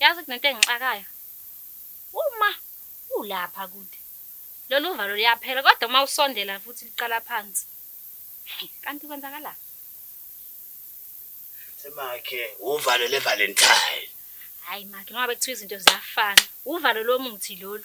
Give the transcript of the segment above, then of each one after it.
Yazi kunento engixakayo uma ulapha kude lolu valo luyaphela kodwa uma usondela futhi luqala phansi. Kanti kwenzakalani? Semakhe uvalo levalentine. Hhayi makhe noma bekuthiwa izinto ziyafana, uvalo lomuthi lolu.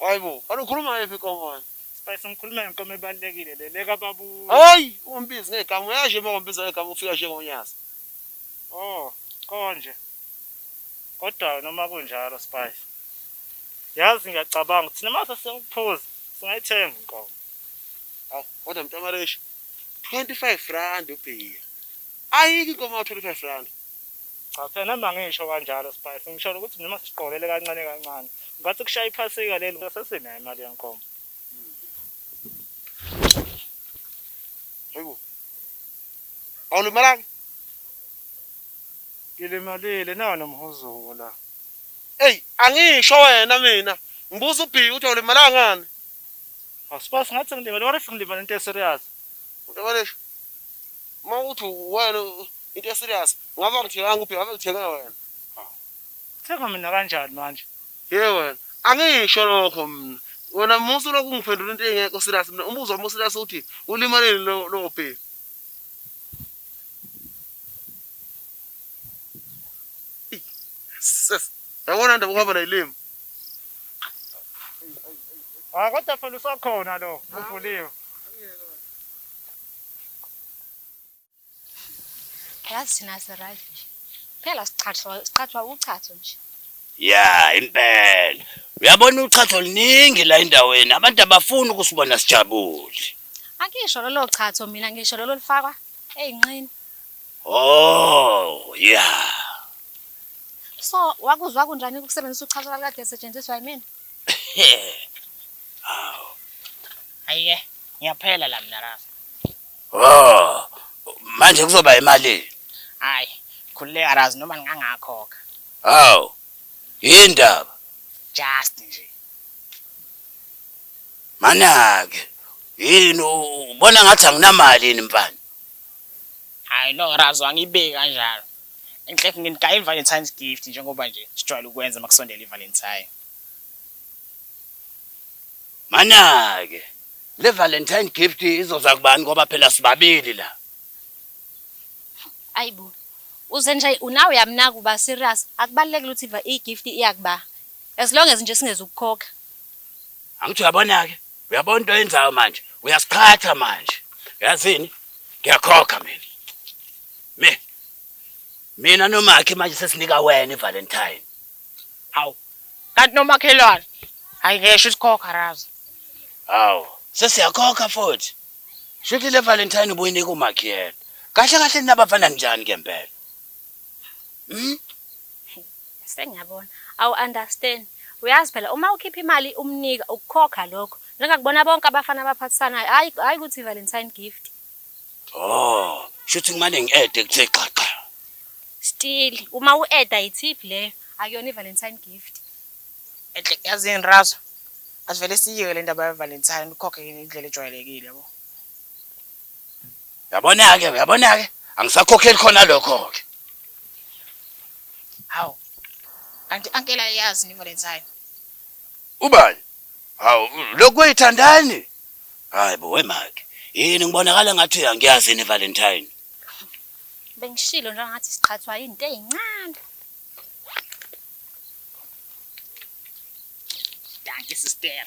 Hayi bo, kanti ukhuluma ngayiphi inkomo wena? Spice ngikhuluma ngenkomo ebalulekile le, le kaBabuza. Hhayi! Ungambizi ngegama, uyazi nje uma ngambiza ngegama ufika njengoNyazi. Oh, konje. Kodwa-ke noma kunjalo Spice, yazi ngiyacabanga ukuthi thina uma sesiyokuphuza singayithenga inkomo. Hawu, kodwa mntaMareshi, 25 randi ubhiya. Ayikho inkomo enga-25 randi. Cha phela noma ngisho kanjalo Spice ngisholo ukuthi noma sisiqokelele kancane kancane ngathi kushaya iphasika leli sesinayo imali yenkomo. Hayibo. Awulimalanga? Ngilimalile nawo nomhuzuko la. Ey angisho wena mina ngibuza uBhiki ukuthi awulimalanga ngani? Aw Spice ngathi ngilimele what if ngilimele into eserious? Uyabalesha. Uma uthi wena Into e serious. Ngabe angithenganga ubheka ngabe ngithenge wena. Thenga mina kanjani manje? Ye wena. Angisho lokho mina. Wena musa ulokhu ungiphendula into engekho serious mina. Umbuzo wami serious uthi ulimaleni lo lo bheka. Sis. Yabona ndaba ukuhamba nayilima. Ah kodwa phela usakhona lo uvuliwe. yazi thina sirayt nje phela sichathwa sichathwa uchatho nje ya impela uyabona uchatho luningi la endaweni abantu abafuni ukusibona sijabule angisho lolo chatho mina ngisho lolo lifakwa eyinqini oh ya so wakuzwa kunjani ukusebenzisa uchatho lakade esetshenziswa yimina awu ayiye ngiyaphela la mina rasa Oh, manje kuzoba imalini? Hayi, khululeka Raz noma ngingangakhokha. Hawu. Yindaba. Just nje. Manake, yini ubona ngathi anginamali yini mfana? Hayi no Raz angibeki kanjalo. Inhlef nginigaya iValentine's gift njengoba nje sijwayele ukwenza makusondela iValentine. Manake. Le Valentine gift izoza kubani ngoba phela sibabili la. Ayibo. Uze nje unawe uyamnaka uba serious. Akubalekile ukuthi i gift iyakuba. As long as nje singeze ukukhokha. Angithi uyabona ke. Uyabona into yenzayo manje. Uyasiqhatha manje. Yazini? Ngiyakhokha mina. Me. Mina nomakhe manje sesinika wena iValentine. Hawu. Kanti nomakhelwane. Hayi ngeshwa isikhokha razi. Hawu. Sesiyakhokha futhi. Shuthi le Valentine ubuyinika uMakhiyela. Kahle kahle ninabafana njani ke mpela? Mhm. Sengiyabona. Awu understand. Uyazi phela uma ukhipha imali umnika ukukhokha lokho. Njengakubona bonke abafana abaphathisanayo hayi hayi ukuthi Valentine gift. Oh, shuthi ngimane ngi-add ekuthe xaxa. Still uma u-add itip leyo akuyona iValentine gift. Enhle yazini Razo asivele siyiyeke le ndaba yeValentine ukhokhe yini indlela ejwayelekile yabo. Yabona-ke, uyabona-ke angisakhokheli khona lokho-ke. Hawu. Kanti ankela yazi ni Valentine. Ubani? Hawu, lokhu kuyithandani? Hayi bo wemaki. Yini ngibonakala ngathi uyangiyazi yini Valentine? Bengishilo nje ngathi siqhathwa into ezincane. Dankie sister.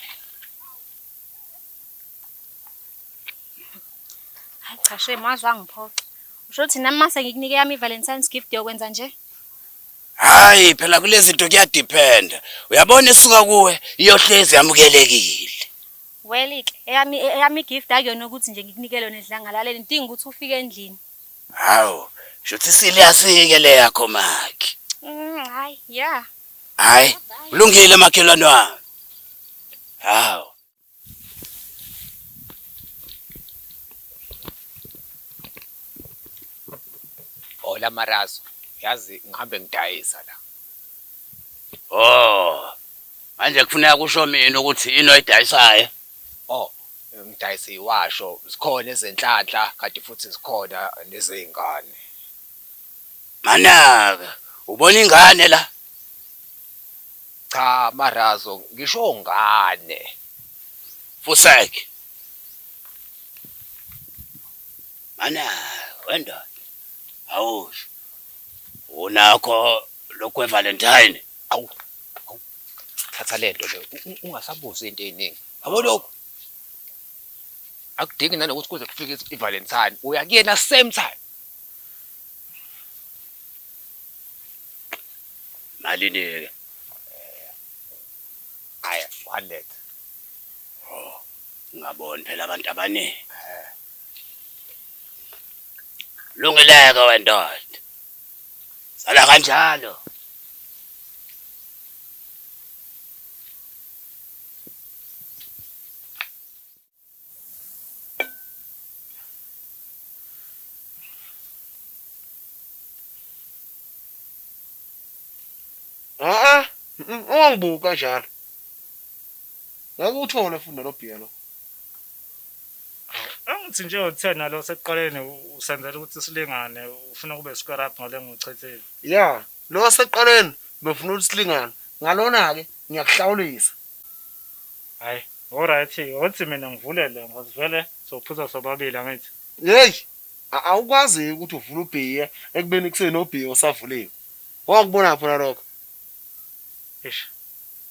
Hayi cha shame waze wangiphoxa. Usho ukuthi nami mase ngikunike yami iValentine's gift yokwenza nje? Hayi phela kulezi zinto kuyadependa. Uyabona esuka kuwe iyohlezi yamukelekile. Well like eyami eyami gift akuyona ukuthi nje ngikunike lona edlangalaleni ngidinga ukuthi ufike endlini. Hawu, shuthi serious ke le yakho makhi. Mm, hayi, yeah. Hayi, kulungile makhelwane wami. Hawu. Hola Marazo, yazi ngihambe ngidayisa la. Oh, Manje kufuneka kusho mina ukuthi yini oyidayisayo? O, ngidayisa iwasho, zikhona ezenhlanhla kanti futhi zikhona nezey'ngane. Manaka, ubona ingane la? Cha Marazo, ngisho ngane. Fuseg, Manaka, wendoda, awusho unakho lokhu kweValentine? Awu, thatha le nto le ungasabuzi into ey'ningi yabo lokhu akudingi nanokuthi kuze kufike i-valentine uya kuyena same time malini-ke hayi eh, hundred oh, ngaboni phela abantu abaningi eh. lungeleke wendoda Sala kanjalo. Ah, ungangibuki kanjalo. Ngeke uthole futhi nalobhiya lo. Angithi nje u-10 nalo osekuqaleni usenzela ukuthi silingane ufuna kube square up ngale ngiwuchithile. Ya, lo wasekuqaleni ubefuna ukuthi silingane ngalona-ke ngiyakuhlawulisa. Hhayi, oryt-ke othi mina ngivulele ngoba vele sophuza sobabili angithi? Yeyi, awukwazi-ke ukuthi uvula ubhiya ekubeni kusenobhiya osavuliwe. Wakubonaphi wena lokho? Eish.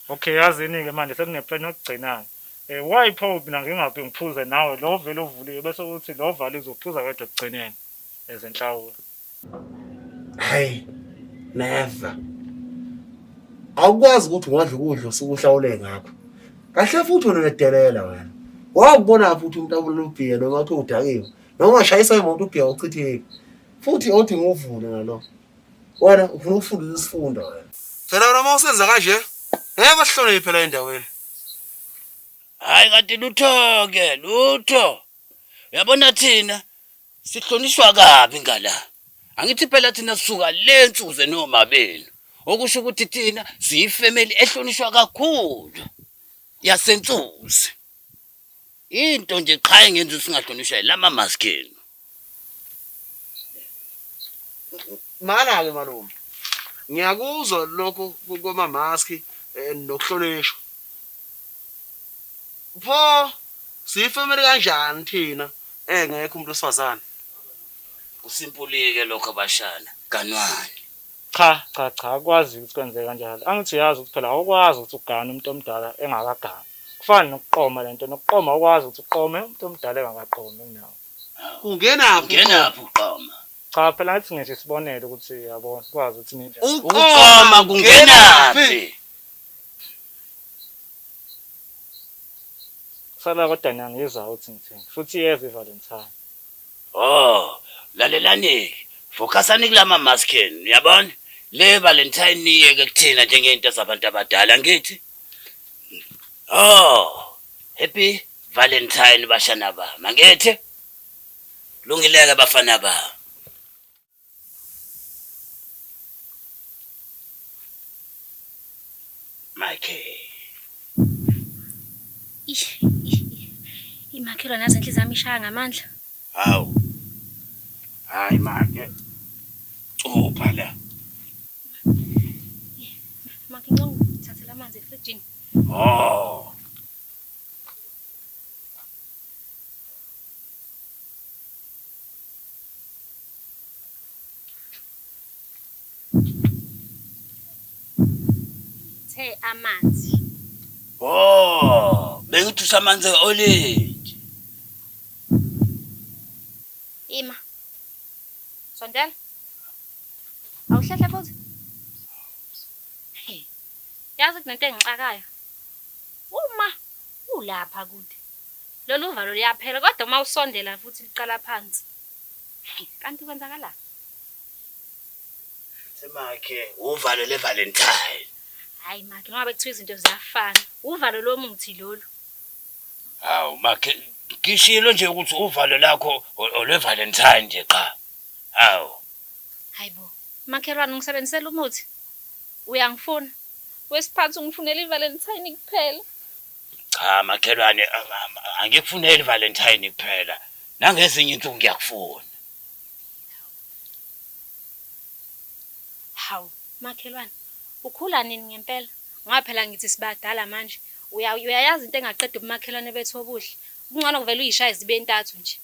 Okay yazini ke manje sekune plan yokugcinana. Eh why pho mina ngingaphi ngiphuze nawe lo vele uvuliwe bese uthi lo valiwe uzophuza wedwa ekugcineni as inhlawulo. Hey never. Awukwazi ukuthi ungadla ukudla usuku uhlawule ngakho. Kahle futhi wena nedelela wena. Wawubona futhi umuntu abulala ubhiya noma uthi udakiwe. Noma shayisa imoto ubhiya uchitheke. Futhi othi nguvule ngalokho. wena ufuna ukufunda isifundo wena phela wena uma usenza kanje ngeke usihlonele phela endaweni hayi kanti lutho-ke lutho uyabona thina sihlonishwa kabi ngala angithi phela thina sisuka le nsuku zenoma benu okusho ukuthi thina siyifemeli ehlonishwa kakhulu yasensuzi Into nje qha engenza ukuthi singahlonishwa yilama mask enu. Mana-ke malume, ngiyakuzwa lokho kwamamaski eh, nokuhlonishwa. Pho siyifamily kanjani thina engekho umuntu wesifazane? Kusimpulike lokho abashana. Ganwani. Cha cha cha akwazi ukuthi kwenzeke kanjalo angithi uyazi ukuthi phela awukwazi ukuthi ugane umuntu omdala engakaganwa kufana nokuqoma lento nokuqoma awukwazi ukuthi uqome umuntu omdala engakaqomi kunawe Ungenaphi Ungenaphi uqoma? cha phela ngathi ngisho isibonelo ukuthi yabo kwazi ukuthi ninja Uqoma kungenaphi? sala kodwa niyangizwa ukuthi ngithini futhi iyeza ivalentine Ohh lalelanike focusani kulama mask enu niyabona le valentine niyiyeke kuthina njengento zabantu abadala angithi? Ohh happy valentine bashana bami angithi? Kulungileke bafana bami. Imakhelwa nazo inhliziyo yami ishaya ngamandla. Hawu. Hayi make. Cupha la. Make ngicela ungithathele amanzi efrijini. Oh. Ngithe amanzi. Wo, bengithi usamanzi e-olenji. Ima. Sondela. Awuhlehla futhi. Hey. Yazi kunento engixakayo. Uma ulapha kude. Loluvalo luyaphela kodwa uma usondela futhi luqala phansi. Kanti kwenzakalani? Kanti make uvalo le Valentine. Hayi make ngoba bekuthiwa izinto ziyafana. Uvalo lomuthi lolu. Hawu make ngishilo nje ukuthi uvalo lakho olwe Valentine nje qha. Hawu. Hayibo. Makhelwane ungisebenzisela umuthi. Uyangifuna. Wesiphansi ungifunela iValentine kuphela. Cha makhelwane angikufuneli Valentine kuphela nangezinye insuku ngiyakufuna. Hawu makhelwane ukhula nini ngempela ngoba phela ngithi sibadala manje uyayazi into engaqeda ubumakhelwane bethu obuhle. Kungcono ngivele uyishaye zibe ntathu nje.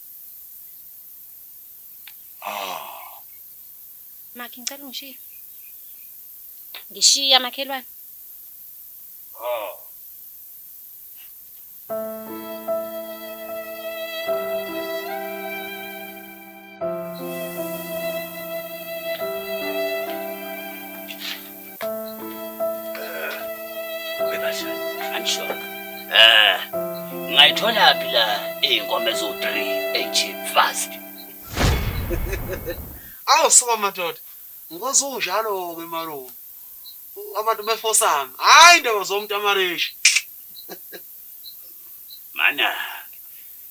Oh. Makhi ngicela ungishiye. Ngishiya makhelwane. Ngayithola phi la izinkomo ezo3 echeap fast. Awu sukama madoda. Ngikwazi unjalo ke malume. Abantu befosana. Hayi indaba zomuntu amareshi. Mana.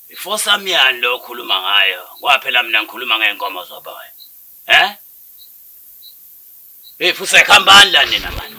Ifosa myani lo khuluma ngayo. Kwaphela mina ngikhuluma ngeenkomo zoboya. Eh? Hey futhi sekhambani la nina manje.